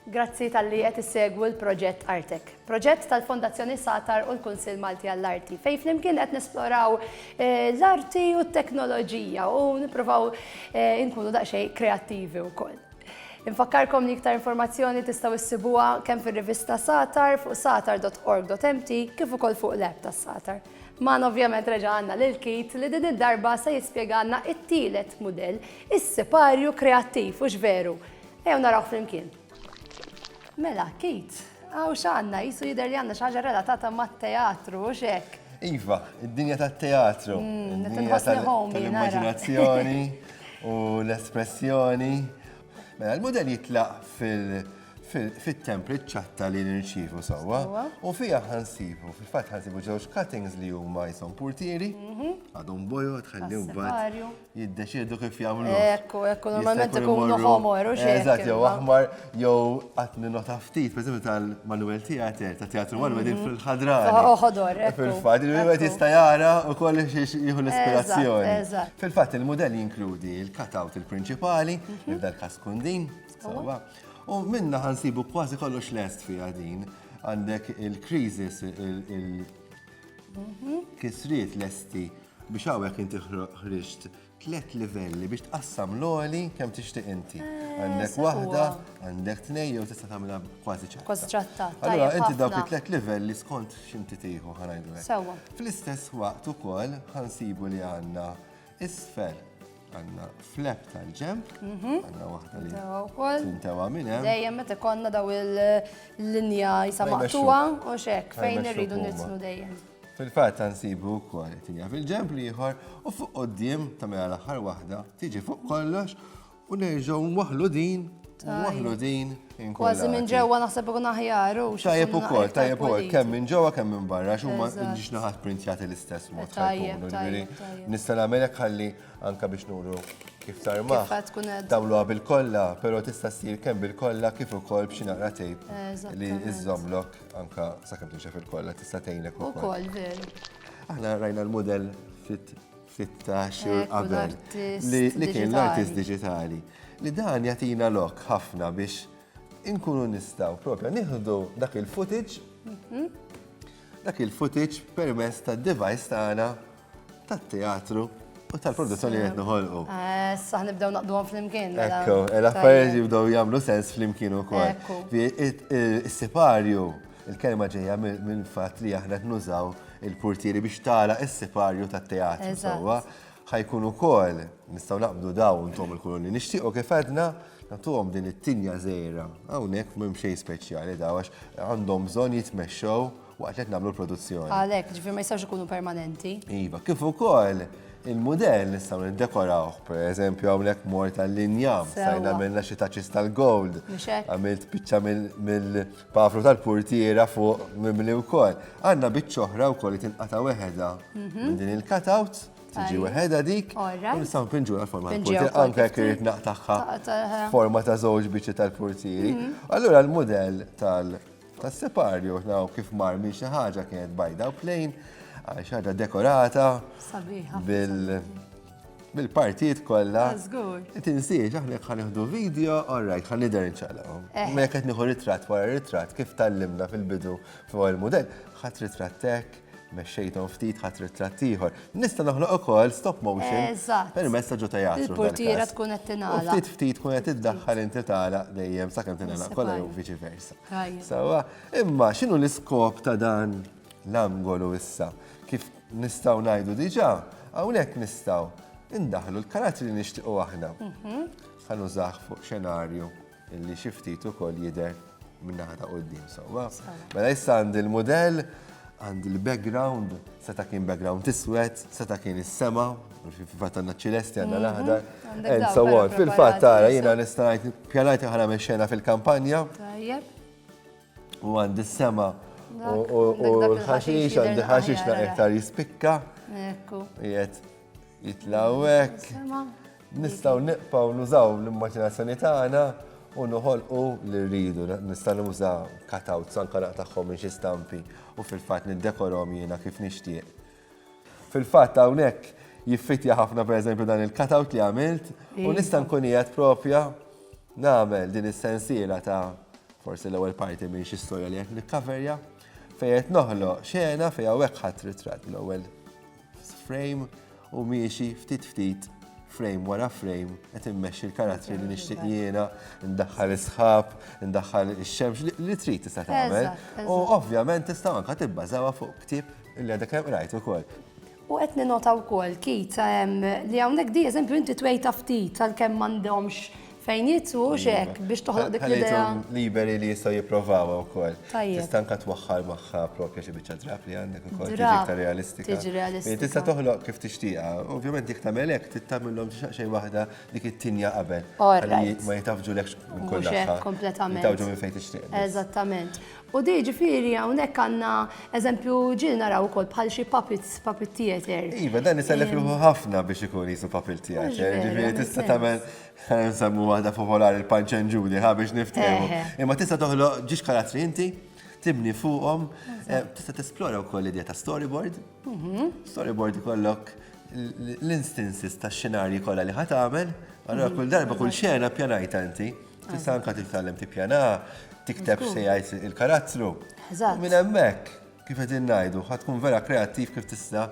Grazzi talli qed issegwu l-proġett Artek, proġett tal-Fondazzjoni Satar u l-Kunsill Malti għall-Arti, fejn flimkien qed nesploraw l-arti u t-teknoloġija u nippruvaw inkunu daqsxejn kreattivi wkoll. Infakkarkom li iktar informazzjoni tistgħu ssibuha kemm fir-rivista Satar fuq satar.org.mt kif ukoll fuq l-app tas-Satar. Magħna ovvjament reġa' għandna lil Keith li din id-darba se jispjegalna t-tielet mudell, is-siparju kreattiv, hux veru? Ejjew naraw flimkien. Mela, Kate, għaw xanna, jisu jider li għanna xaġa relatata ma' teatru, u xek. Iva, id-dinja ta' teatru. Mm, id-dinja tal-immaginazzjoni u l-espressjoni. Mela, l-model jitlaq fil- fit-template ċatta li nirċivu sawa u fija ħansibu, fil-fat ħansibu ġewġ cuttings li huma jisom portieri, mhm. għadhom bojo tħallihom bad. jiddeċiedu kif jagħmlu. Ekku, ekku, normalment ikunu ħomor u xi. Eżatt, jew aħmar, jew qatt minn nota ftit, pereżempju tal-Manuel Theater, ta' Teatru Manuel din mm-hmm. fil-ħadra. Oħodor, oh, Fil-fatt, il-wieħed jista' jara u koll jieħu l-ispirazzjoni. Fil-fatt, il-mudell jinkludi il-cutout il-prinċipali, mm-hmm. il dal kas kundin, sawa. U minna ħansibu kważi kollox lest fija din. Għandek il-krizis, il-kisriet mm-hmm. lesti Biex hawnhekk inti ħriġt tliet livelli biex tqassam l-oli kemm tixtieq inti. Eh, għandek waħda, għandek tnej jew tista' tagħmilha kważi ċatta. Kważi ċatta. Allura inti dawk it-tliet livelli skont x'inti tieħu ħanajdu Sewwa. Fl-istess waqt ukoll ħansibu li għandna isfel għanna flap tal-ġemp, mhm. għanna wahda li tintawa minna. Dejjem meta konna daw il-linja jisa maqtuwa u xek fejn irridu nitnu dejjem. Fil-fatt sa nsibu wkoll qed injaf il-ġemp l-ieħor u fuq quddiem ta' mela l-aħħar waħda tiġi fuq kollox u nerġgħu nwaħħlu din u nwaħħlu din inkollha. Kważi minn ġewwa naħseb ikun aħjar u Tajjeb ukoll, tajjeb ukoll, kemm minn ġewwa kemm minn barra, xi huma ġiex naħat printjati l-istess mod. Tajjeb, tajjeb. Nista' nagħmel hekk ħalli anke biex nuru kif tarmaħ. Tagħmluha bil-kollha, però tista' ssir kemm bil-kollha kif ukoll b'xi naqra tejp li iżomlok Anka sakemm tinxef il-kolla tista' tgħinek ukoll. Ukoll veru. Aħna rajna l-mudell fit ftit ta' xhur eh, qabel li kien l-artist digitali. Li dan jatina lok ħafna biex inkunu nistaw propja nieħdu dak il-footage mhm. dak il-footage permess ta' device tagħna tat-teatru u tal-produzzjoni qed noħolqu. Eh, saħ nibdew naqduhom flimkien. Mela. Ekku, eh, l-affarijiet jibdew jagħmlu sens flimkien ukoll. Is-siparju, il-kelma ġejja minn fatt li aħna qed nużaw il-portieri biex tala is-siparju tat-teatru sewwa ħajkun ukoll nistgħu naqbdu daw intom il-kuluni. Nixtiequ kif għedna nagħtuhom din it-tinja żejra. Hawnhekk m'hemm xejn speċjali daw għax għandhom bżonn jitmexxew waqt li qed nagħmlu l-produzzjoni. Għalhekk, ġifieri ma jistgħux ikunu permanenti. Iva, kif ukoll il-mudell nistgħu niddekorawh, pereżempju hawnhekk mort tal-linjam, stajn għamilna xi taċis tal-gold, għamilt biċċa mill-pafru tal-purtiera fuq mimli wkoll. Għandna biċċa oħra wkoll li tinqata' weħeda mhm. minn din il-cutout tiġi weħeda dik, u nistaw pinġu għal-forma tal-portieri, anke jekk irid naqtaħħa forma ta' żewġ biċċi tal-portieri. Mhm. Allura l-modell tal- Tas-separju, naw kif mar minn xi ħaġa kienet bajda u plejn, għal xi ħaġa dekorata bil-partijiet kollha. Tinsiex, aħna jekk ħanieħdu video, all right, ħan nidher inċaqlaqhom. Eh. Ma jekk qed nieħu ritratt wara ritratt kif tallimna fil-bidu fuq il-mudell, ħadd ritrattek, mexxejthom ftit ħadd ritratt ieħor. Nista' noħloq ukoll stop motion permezz ta' ġo teatru. Il-portiera tkun qed tingħalaq. Ftit ftit tkun qed iddaħħal inti tagħlaq dejjem sakemm tingħalaq kollha jew viċi versa. Sewwa, imma x'inhu l-iskop ta' dan l-angolu issa? Kif nistgħu ngħidu diġà, hawnhekk nistgħu indaħlu l-karattri li nixtiequ aħna. Mhm. Ħanużah fuq xenarju Illi xi ftit ukoll jidher min-naħa ta' quddiem sewwa. Mela issa għandi l-mudell, għandi l-background, seta' kien background iswed, seta' kien is-sema, fil-fatt għandna ċilesti għandna l-aħdar, and so on. Fil-fatt tara jiena nista' ngħid pjanajt aħna minn xena fil-kampanja. U għandi s-sema u l-ħaxix għandi ħaxix naqtar jispikka. Ekku. Jiet jitlawek. Nistgħu nibqgħu nużaw l-immaġinazzjoni tagħna u noħolqu li rridu. Nista' nuża cutouts anke naqtagħhom minn xi stampi u fil-fatt niddekorhom jiena kif nixtieq. Fil-fatt hawnhekk jiffitja ħafna pereżempju dan il-cutout li għamilt u nista' nkun qiegħed propja nagħmel din is-sensiela ta' forsi l-ewwel parti minn xi storja li qed nikkaverja fejn qed noħloq xena fejn hawnhekk ħadd ritratt l-ewwel Frame u miexi ftit ftit frame wara frame qed immexxi l-karattri li nixtieq jiena, ndaħħal is-sħab, ndaħħal ix-xemx li trid tista' tagħmel. U ovvjament tista' anke tibbażawha fuq ktieb li għadek kemm qrajt ukoll. U qed ninota wkoll kit li hawnhekk di eżempju inti twejta ftit għalkemm m'għandhomx Fejn jgħid hux hekk biex toħloq dik l-idea. Ħallejthom liberi li jistgħu jipprovawha wkoll. Tajjeb. Tista' anke twaħħal magħha proprja xi biċċa drapp li għandek ukoll tiġi Drapp, iktar realistika. tiġi realistika. Hi Tista' toħloq kif tixtieqha. Ovvjament jekk tagħmel hekk trid tagħmilhom xi xejn waħda dik it-tinja qabel. All Ħalli right. ma jitgħaffġulekx minn kull Mhux hekk naħa. kompletament. Jitgħaffġu minn fejn tixtieq. biss. Eżattament. U di ġifieri hawnhekk għandna eżempju ġieli naraw ukoll bħal xi puppets, puppet theatre. Iva, dan isellef ruħu ħafna biex ikun qisu puppet theatre. Mhux veru, Ġifieri jagħmel tista' sens. tagħmel Ħa nsemmu waħda popolari l-Punch and Judy, ħa biex niftehmu. Imma tista' toħloq ġiex karattri inti, tibni fuqhom, eh, tista' tesplora wkoll l-idea ta' storyboard. Mhm. Storyboard ikollok l-instances ta' xenarji kollha li ħat għamel, allora mhm. kull darba kull xena pjanajta inti. Tista' anka titgħallem tippjana, tikteb se jgħid il-karattru. Minn hemmhekk. Kif qegħdin ngħidu, ħa tkun vera kreattiv kif tista'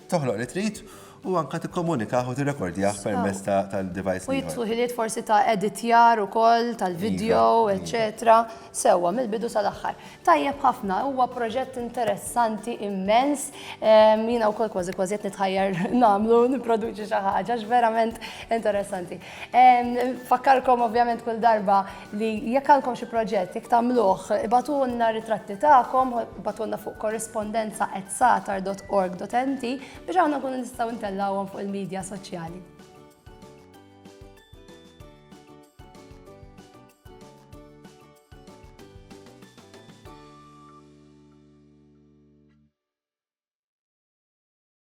toħloq li trid u anka tikkomunikah u tirrekordjah permezz tal-device. U jitlu ħiliet forsi ta' editjar ukoll tal-video, iva, iva. eċetera. Sewwa mill-bidu sal-aħħar. Tajjeb ħafna, huwa proġett interessanti immens. Jiena wkoll kważi kważi qed nitħajjar nagħmlu nipproduċi xi ħaġa verament interessanti. Fakkarkom ovvjament kull darba li jekk għandkom xi proġett, jekk tagħmluh, ibatulna ritratti tagħkom, ibatulna fuq korrispondenza at satar.org.nt biex aħna nkunu nistgħu ntellawhom fuq il-medja soċjali.